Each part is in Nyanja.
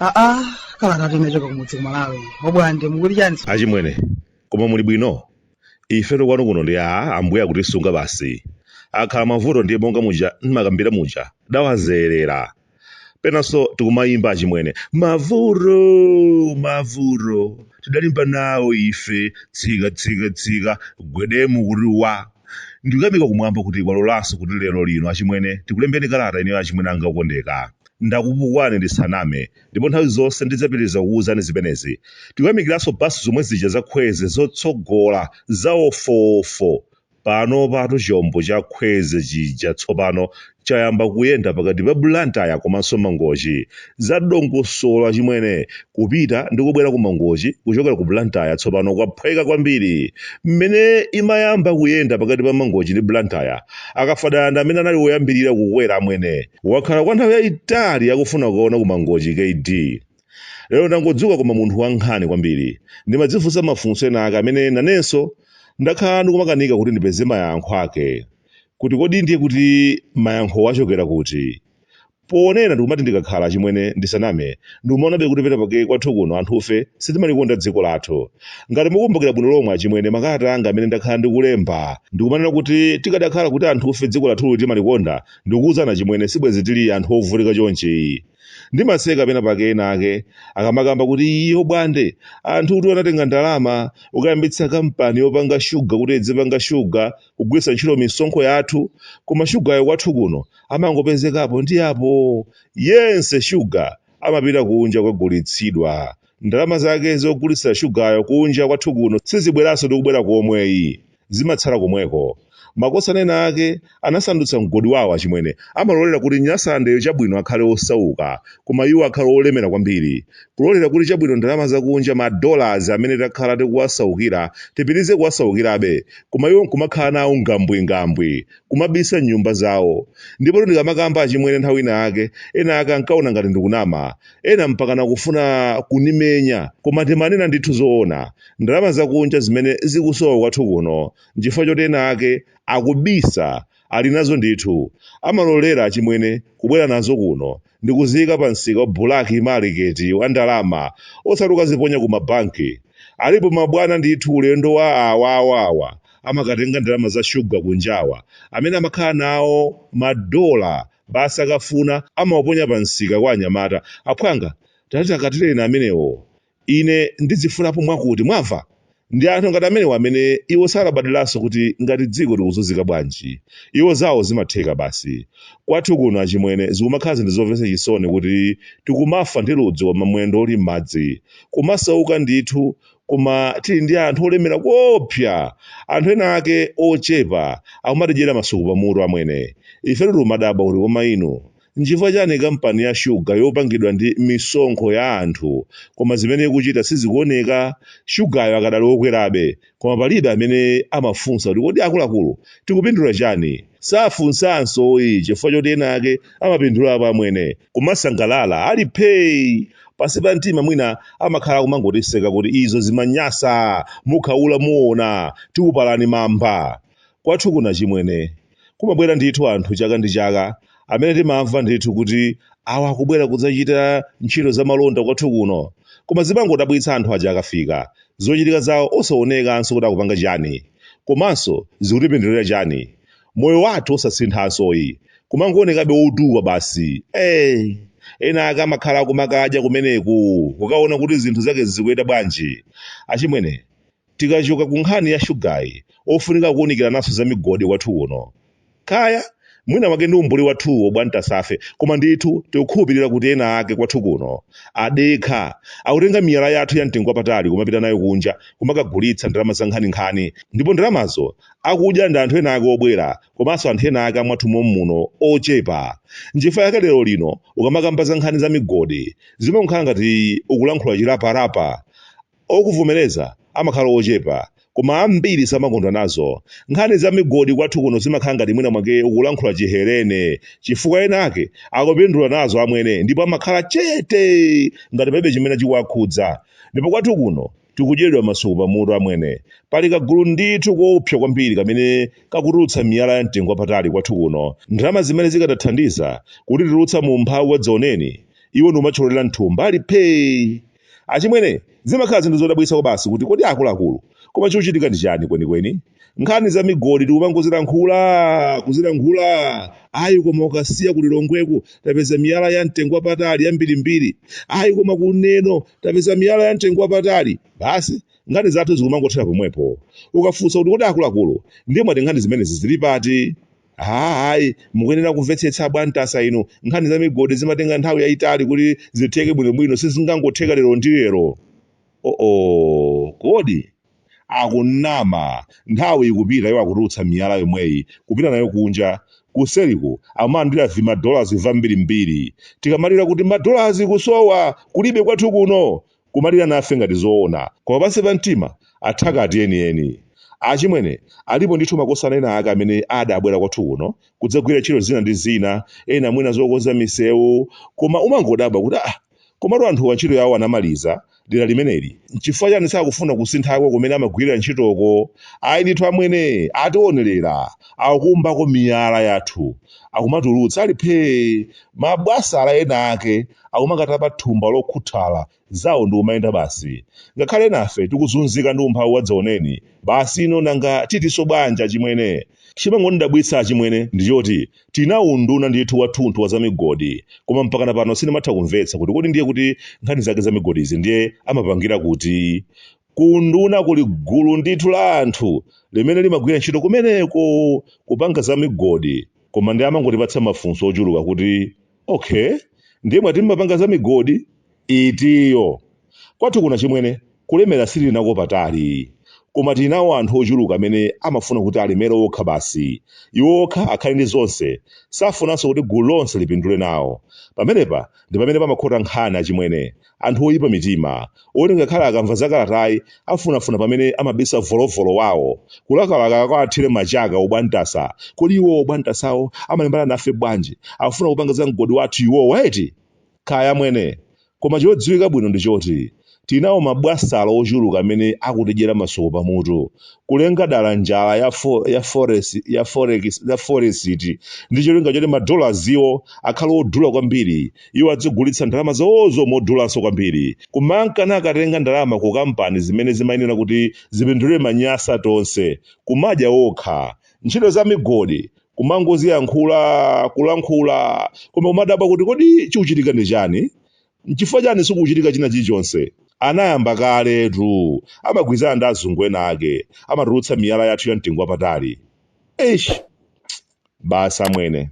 aa kalata tinachoka kumudzi kumalawi obwande mukuli chani achimwene koma muli bwino ife tokwanu kuno ndi a ambuye akutisunga basi akhala mavuto ndiye monga muja ndimakambira muja tawazolowera penanso tikumayimba achimwene mavuro mavuro tidalimba nawo ife tsika tsika tsika gwedemu kuti wa ndikuyamika kumwamba kuti kwalolanso kuti lero lino achimwene tikulembeni kalata ineyo achimwene anga okondeka ndakupukwani ndisaname ndipo nthawi zonse ndidzapitiriza kuwuzani zimenezi tikuyamikiranso basi zomwe zija zakhweze zotsogola za ofofo Panopatu chombo cha Khweze chija tsopano chayamba kuyenda pakati pa Blantyre komanso Mangochi. Za dongosolo achimwene, kupita ndi kubwera ku Mangochi kuchokera ku Blantyre tsopano kwaphweka kwambiri. Mmene imayamba kuyenda pakati pa Mangochi ndi Blantyre, a Kafadala ndi amene anali oyambirira kukwera amwene. Akhala kwa nthawi yaitali akufuna kukaona ku Mangochi kd. Lero ndangodzuka koma munthu wankhawa kwambiri. Ndimadzifunsa mafunso ena ake amene nanenso ndakhala ndikumakanika kuti ndipeze mayankho ake. Kuti kodi ndiye kuti mayankhowo achokera kuti? Ponena ndikumati ndikakhala achimwene ndisaname, ndikumaonabe kuti pena pake kwathu kuno anthufe sitimalikonda dziko lathu. Ngati mukumbukira bwino lomwe achimwene makalata anga amene ndakhala ndikulemba ndikumanena kuti tikadakhala kuti anthufe dziko lathuli timalikonda, ndikukuuzani achimwene sibwenzi tili anthu ovutika chonchi. ndimaseka pena pake ena ake akamakamba kuti iyo bwande anthu kuti anatenga ndalama ukayambitsa kampani yopanga shuga kuti idzipanga shuga kugwiritsa ntchito misonkho yathu koma shugayo kwathu kuno amangopezekapo ndi apo yense shuga amapita kunja kukagulitsidwa ndalama zake zogulitsira shugayo kunja kwathu kuno sizibweranso ndikubwera komweyi zimatsala komweko. Makosana ena ake anasandutsa mgodi wawo achimwene amalolera kuti Nyasalandeyo Chabwino akhale osauka koma iwo akhale olemera kwambiri. Kulolera kuti Chabwino ndalama zakunja ma dollars amene takhala tikuwasaukira tipitirize kuwasaukirabe koma iwo nkumakhala nawo ngambwingambwi, kumabisa m'nyumba zawo. Ndipotu ndikamakamba achimwene nthawi ina yake, ena ake ankaona ngati ndikunama. Ena mpakana kufuna kunimenya, koma timanena ndithu zoona. ndalama zakunja zimene zikusowa kwathu kuno nchifukwa choti ena ake akubisa ali nazo ndithu amalolera achimwene kubwera nazo kuno ndikuziyika pa msika wa black market wa ndalama osati ukaziponya ku mabanki alipo mabwana ndithu ulendo wa awawawa amakatenga ndalama za shuga kunjawa amene amakhala nawo madola basi akafuna amawaponya pa msika kwa anyamata aphwanga tatikatireni amenewo Ine ndidzifulapo mwakuti, mwamva? Ndi anthu ngati amenewo amene, iwo salabadiranso kuti ngati dziko likuzunzika bwanji. Iwo zawo zimatheka basi. Kwathu kuno, achimwene, zikumakhala zinthu zomvetsa chisoni kuti tikumafa ndi ludzu koma mwendo uli m'madzi. Kumasauka ndithu, koma tili ndi anthu olemera koopsa! Anthu ena ake ochepa akumatidyera masuku pamutu, amwene. Ifetu tikumadabwa kuti koma inu. Nchifukwa chani kampani ya sugar yopangidwa ndi misonkho ya anthu koma zimene ikuchita sizikuoneka? Sugar'yo akadali okwerabe koma palibe amene amafunsa kuti kodi akuluakulu tikupindula chani? Safunsanso ayi chifukwa choti ena ake amapindulapo amwene kumasangalala ali phee! Pansi pa mtima mwina amakhala akumangotiseka kuti izo zimanyasa, mukhaula muona, tikupalani mamba! Kwathu kuno achimwene! Kumabwera ndithu anthu chaka ndi chaka amene timamva ndithu kuti awa akubwera kudzachita ntchito za malonda kwathu kuno. Koma zimangodabwitsa anthu aja akafika, zochitika zawo osaonekanso kuti akupanga chani. Komanso zikutipindulira chani? Moyo wathu osasinthanso ayi, kumangoonekabe wotuwa basi. Eee! Ena ake amakhala akumakadya kumeneku, kukaona kuti zinthu zake zikuyenda bwanji. Achimwene, Tikachoka ku nkhani ya shugayi, ofunika kuunikirananso za migodi kwathu kuno. Kaya, mwina mwake ndi umbuli wathuwu abwantasafe, koma ndithu tikukhulupirira kuti ena ake kwathu kuno, adekha, akutenga miyala yathu ya mtengo wapatali kumapita nayo kunja kumakagulitsa ndalama za nkhaninkhani, ndipo ndalamazo akudya ndi anthu ena ake obwera komanso anthu ena ake a mwathu mommuno ochepa. Nchifukwa chake lero lino ukamakamba za nkhani za migodi, zimangokhala ngati ukulankhula chirapa-rapa. Okuvomereza amakhala ochepa, koma ambiri samakondwa nazo. Nkhani za migodi kwathu kuno zimakhala ngati mwina mwake ukulankhula Chihelene, chifukwa ena ake akupindula nazo amwene ndipo amakhala chete ngati palibe chimene chikuwakhudza. Ndipo kwathu kuno tikudyeredwa masuku pamutu amwene. Pali kagulu ndithu koopsa kwambiri kamene kakutulutsa miyala ya mtengo wapatali kwathu kuno. Ndalama zimene zikadathandiza kutitulutsa mu umphawi wadzaoneni, iwo ndi kumathyololera m'thumba ali phee! Achimwene, zimakhala zinthu zodabwitsa kwabasi kuti kodi akuluakulu, koma chochitika ndi chani kwenikweni? Nkhani za migodi tikumangozilankhula, kuzilankhula, ayi koma ku Kasiya ku Lilongweku tapeza miyala ya mtengo wapatali yambirimbiri, ayi koma ku Neno tapeza miyala ya mtengo wapatali. Basi, nkhani zathu zikumangothera pomwepo. Ukafunsa kuti kodi akuluakulu, ndiye mwati nkhani zimenezi zili pati? Ha, ayi, mukuyenera kumvetsetsa abwantasa inu. Nkhani za migodi zimatenga nthawi yayitali kuti zitheke bwinobwino, sizingangotheka lero ndi lero. Oh, kodi? Akunama, nthawi ikupita iwo akutulutsa miyala yomweyi, kupita nayo kunja. Kuseliko, amalandira vima dollars vambirimbiri. Tikamalira kuti ma dollars kusowa, kulibe kwathu kuno! kumalira nafe ngati zoona koma pansi pa mtima athakati enieni. Achimwene, alipo ndithu makosana ena ake amene adabwera kwathu kuno kudzagwira ntchito zina ndi zina, ena mwina zokonza misewu, koma umangodabwa kuti aah, komatu anthuwa ntchito yawo anamaliza dera limeneli, nchifukwa chani sakufuna kusinthako kumene amagwirira ntchitoko? Ayi ndithu amwene, ationerera, akukumbako miyala yathu, akumatulutsa ali phee mabwasala ena ake akumakatapa thumba lokhuthala zawo ndikumayenda basi ngakhale ena ife tikuzunzika ndi umphawi wadzaoneni basi ino nanga titinso bwanji achimwene chimangondidabwitsa achimwene ndi choti tina unduna ndithu wathunthu wa zamigodi koma mpakana pano sindimatha kumvetsa kuti kodi ndiye kuti nkhani zake zamigodizi ndiye amapangira kuti Ku unduna kuli gulu ndithu la anthu limene limagwira ntchito kumeneko kupanga za migodi koma ndiye amangotipatsa mafunso ochuluka kuti ok ndiye mwati mumapanga za migodi itiyo? Kwathu kuno achimwene kulemera sitilinako patali koma tili nawo anthu ochuluka amene amafuna kuti alemere okha basi, iwo okha akhale ndi zonse safunanso kuti gulu lonse lipindule nawo. Pamenepa ndi pamene pamakhota nkhani achimwene. Anthu oyipa mitima, oti ngakhale akamva za kalatayi afunafuna pamene amabisa volovolo wawo, kulakalaka akawathire machaka obwantasa, kodi iwowo obwantasawo amalimbana nafe bwanji, akufuna kupanga za mgodi wathu iwowa eti? Kaya amwene, koma chodziwika bwino ndi choti, tilinawo ma bwasala ochuluka amene akutidyera masuku pa mutu, kulenga dala njala ya forex ndi cholinga choti ma dollars iwo akhale odula kwambiri, iwo adzigulitsa ndalama zawozo modulanso kwambiri kumanka nakatenga ndalama ku kampani zimene zimayenera kuti zipindulire manyasa tonse kumadya okha ntchito za migodi kumangoziyankhula kulankhula koma kumadabwa kuti kodi chikuchitika ndi chani nchifukwa chani sikuchitika china chilichonse anayamba kaletu amagwirizana ndi azungu ena ake amatulutsa miyala yathu ya mtengo wapatali eish Basi amwene,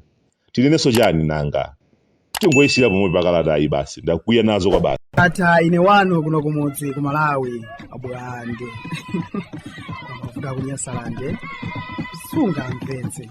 tinenenso chani nanga? Tingoyisiira pomwepa kalatayi basi, ndakwiya nazo kwabasi. Ndatha ine wanu kuno kumudzi ku Malawi abulande kuda kunyasalande sunga mpenzi